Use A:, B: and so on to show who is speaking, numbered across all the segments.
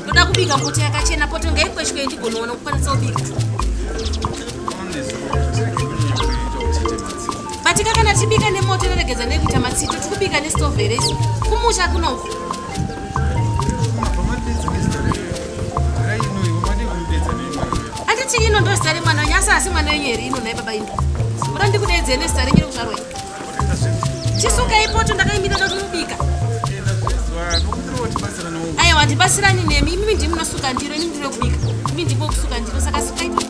A: ndoda kubika mbuti yakachena poto ngaikweshwe ndigonoona kukwanisa kubika batika kana tibika nemoto inoregedza nekuita matsito tikubika nestove here isu kumusha kunoku Anditi ino ndo zita remwana wenyu asi asi mwana wenyu here ino nhai baba ino. Muda ndikudeedzei nezita renyu rekuzvarwa iri. Chisuka ipoto ndakaimira ndoda kumubika. Aiwa ndibatsirani nemi imimi ndimi munosuka ndiro ini ndiri wekubika. Imi ndimi wekusuka ndiro saka sukai poto.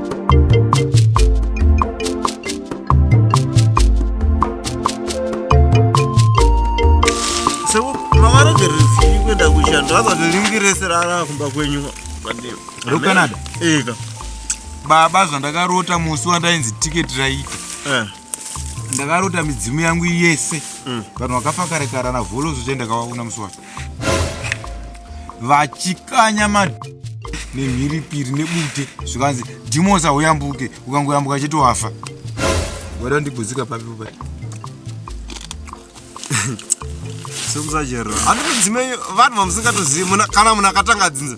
B: kuenda kushando akazoringirese rara kumba kwenyu rokanada
C: eka
B: baba
C: zvandakarota musi wandainzi tiketi raita eh. ndakarota midzimu yangu yese mm. vanhu vakafakarekarana vholo zvochaenda kavaona musi wacho vachikanya ma nemhiripiri nebute zvikanzi dhimosa huyambuke ukangoyambuka chete wafa wada ndiguzika papi pa
B: sokusajerwa andinodzimei vanhu vamusingatozivi kana munhu akatanga dzinza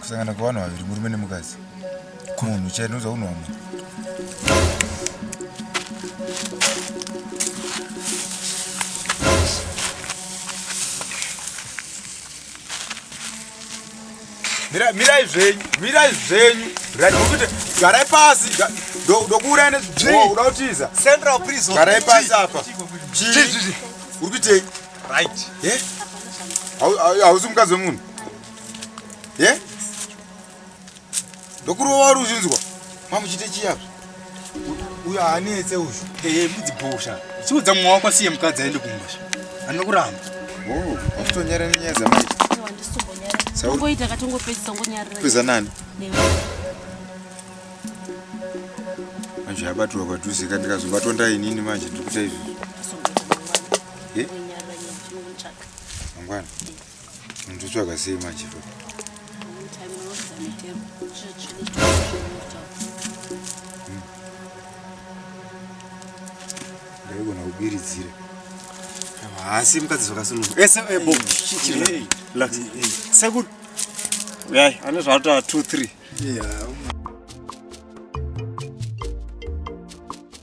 B: kusangana kwevanhu vaviri
C: murume nemukadzi munhu chai ndinoza unhu wamwe mirai zvenyu mirai zvenyu raiukuti garai pasi ndokuurai nezvii uda kutiza central prison garai
B: pasi apa
C: chii
B: uri kuitei right
C: eh? hausi mukadzi wemunhu ye ndokurova wari uzvinzwa mamuchite chiyazvo uyo haanetse uyu ee mudzibhosha
B: chiudza mumwe wako asiye mukadzi aende kumusha anokuramba oh,
C: achitonyara nenyaya dzamaita
A: ongoita katongopedzisa ngonyariraeza nani
C: manje yabatirwa padhuze ka ndikazobatwa ndainini manje ndiri kuita izvizvo mangwana Ndotsvaga sei manje baba? Ndaigona kubiridzira.
B: Haasi mukadzi zvakasununguka. Ese ebo. Relax. Sekuru. Uyai, ane zvataura 2 3. Yeah.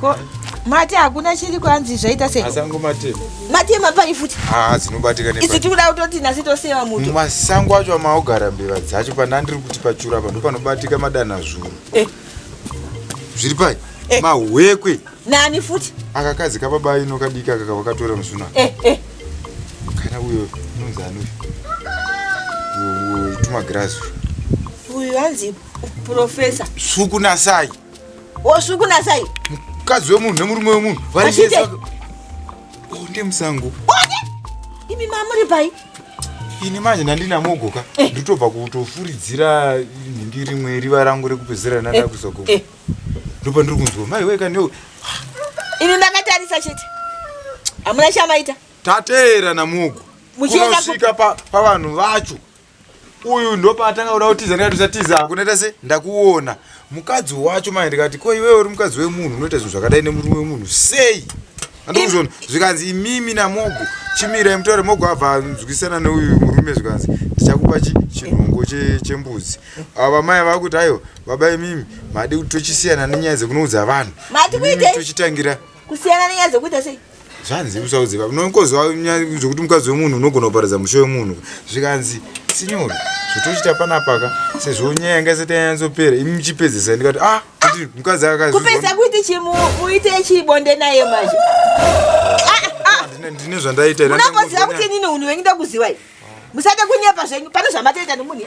D: ko mate hakuna chiri kwanzi zvaita sei masango matema
C: matema pai futi
D: haa dzinobatikana isu
C: tikuda kutoti nasi
D: toseva muto masango acho amaogara
C: mbeva dzacho pana ndiri kuti pachura pano panobatika madana zvuru eh. zviri pai eh. mahwekwe nani futi
D: akakadzi kababa
C: ino kadiki aka kavakatora musuna eh, eh. kana uyo unonzi anuyo tumagirazi uyu
D: anzi profesa sukunasai
C: Osvi
D: kuna sai. Mukadzi
C: wemunhu nemurume wemunhu vari vese. Onde oh, musango.
D: Onde. Oh,
C: Imi mamuri pai? Ini manje ndandina mogoka. Eh. Ndotobva kutofuridzira nhindi rimwe riva rangu rekupedzera nanda eh. kuzogo. Eh. Ndopa ndiri kunzwa mai weka kanyo. Ini
D: ndakatarisa chete. Amuna chamaita. Tateera na
C: mugo. Muchienda kusvika pa pavanhu vacho. uyu ndopaatanga kuda kutiza ndikati usatiza hako ndaita se ndakuona mukadzi wacho manje ndikati ko iwewe uri mukadzi wemunhu unoita zvinhu zvakadai nemurume wemunhu sei andikuzvona zvikanzi imimi namogo chimirai mutaure mogo abva anzwisana neuyu murume zvikanzi ndichakupa chinhongo chembuzi ava vamai ava kuti aiwa baba imimi madi kuti tochisiyana nenyaya dzekunoudza vanhu tochitangira kusiyana nenyaya
D: dzekuita sei zvanzi usaudze
C: baba nonkozwa zvekuti mukadzi wemunhu unogona kuparadza musho wemunhu zvikanzi sinyori zvotochita panapaka sezvo nyaya yanga isati yanyatsopera imi muchipedzesa ndikati ah kuti mukadzi akakupedza kuiti
D: chimuite chibonde naye manje
C: ndine zvandaita unakoziva kuti inini
D: unhu wenyu ndakuziva i musade kunyepa zvenyu pane zvamatoita nemunhu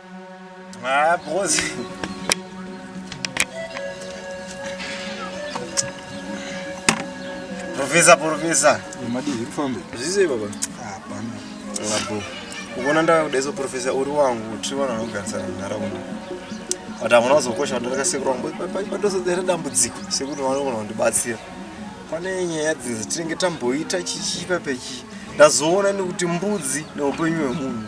B: Ah, boss. Professor, professor. Madi zvikufambe.
C: Zvise baba.
B: Hapana. Labo. Ukona ndaka kudezo professor uri wangu tiri vanhu vanogarisana munharaunda. But hamuna kuzokosha kuti ndakasekura wangu padosodera dambudziko sekuti vanogona kundibatsira. Pane nyaya dzinzi tinenge tamboita chichipa pechi. Ndazoona nekuti mbudzi neupenyu hwemunhu.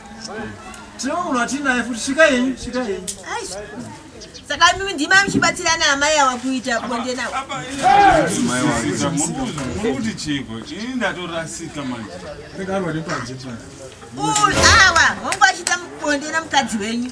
D: Tinomunhu
C: atinaye futi svika yenyu, svika yenyu.
D: Saka mimi ndima mchibatsira na amai awa kuita bonde nawo. Mai wakuita
E: muri kuti chiko. Ini ndatorasika manje. Rega arwa nepanje panje. Uyu
D: awa, hongu achita bonde na mukadzi wenyu.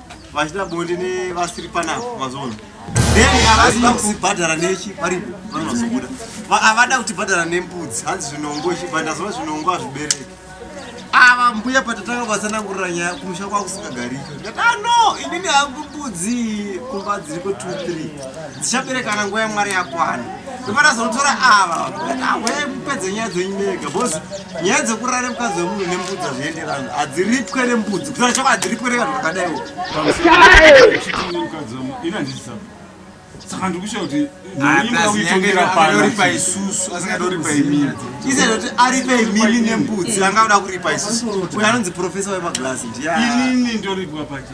B: vachita bonde nevasiri panapa mazoona then havasi vakubhadhara nechi varipo vanozobuda havada kutibhadhara nembudzi hanzi zvinongo chibhandazova zvinongo hazvibereki ava mbuya patatanga vatsanangurira nyaya kumusha kwakusingagarika ndikati ano ah, inini hangu mbudzi kumba dziriko 23 dzichaberekana nguva yamwari yakwana ndopatazonotora ava ndikati ahwe ah, mupedze nyaya dzenyu mega bhozi nyaya dzekurara nemukadzi wemunhu nembudzi hazvienderani hadziripwe nembudzi kusana chako hadziripwe nevanhu vakadaiwo
E: saka ndikusha kuti naiaaitoripa
C: isusu asingatoripa imini isenoti aripa
B: imini nembudzi anga uda kuripa isusu uyo anonzi profesa wemaglasi ndiya inini
E: ndoripwa pacha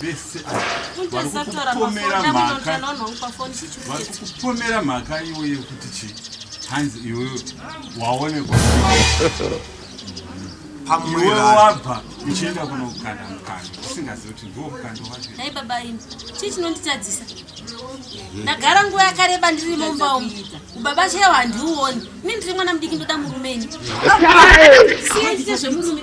E: vese varikupomera mhaka iwe yekuti chii hanzi iwe waonekwa iwe wabva uchienda kunokanda mukanda usingazivi kuti ndiwo mukanda waei baba ini
A: chii chinonditadzisa ndagara nguva yakareba ndiri mumba umu ubaba chaiwo handiuoni ini ndiri mwana mudiki ndoda murume ini siendite zvemurume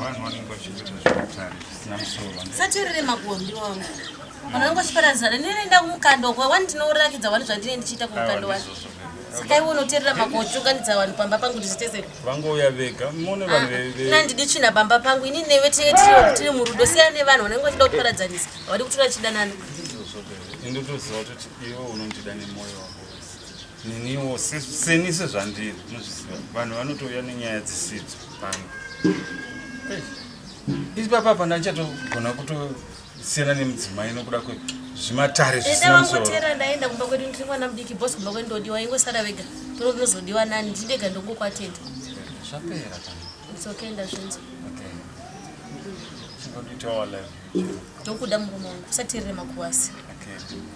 E: vanhu vanenge vachiita zveutare zvisina musoro saterere magondi
A: wangu vanhu vanenge vachiparadzana ndinoenda kumukando kwa wani ndinorakidza wani zvandine ndichiita kumukando wani saka iwe unoterera makochunganidza vanhu pamba pangu ndichiteseka vangouya vega
E: mone vanhu ah, veve nandidi tsvina pamba
A: pangu ini neve tee tiri murudo siya nevanhu vanenge vachida kutiparadzanisa havadi kutora chidanana
E: indotoziva kuti iwe unondida nemoyo wako niniwo seni sezvandiri nozviziva vanhu vanotouya nenyaya dzisidzo pano isi papa pana ndichatogona kutosiyana nemudzimai nokuda kwe zvimatare zvisinamsorotera ndaenda kumba kwedu
A: ndiri mwana mudiki bos kumba kwedu ndodiwa ingosara vega tono ndinozodiwa nani ndindega ndongokwatenda zvapera
E: ndizokaenda
A: zvinzo
E: ndokuda murume
A: wangu usatirire makuwasi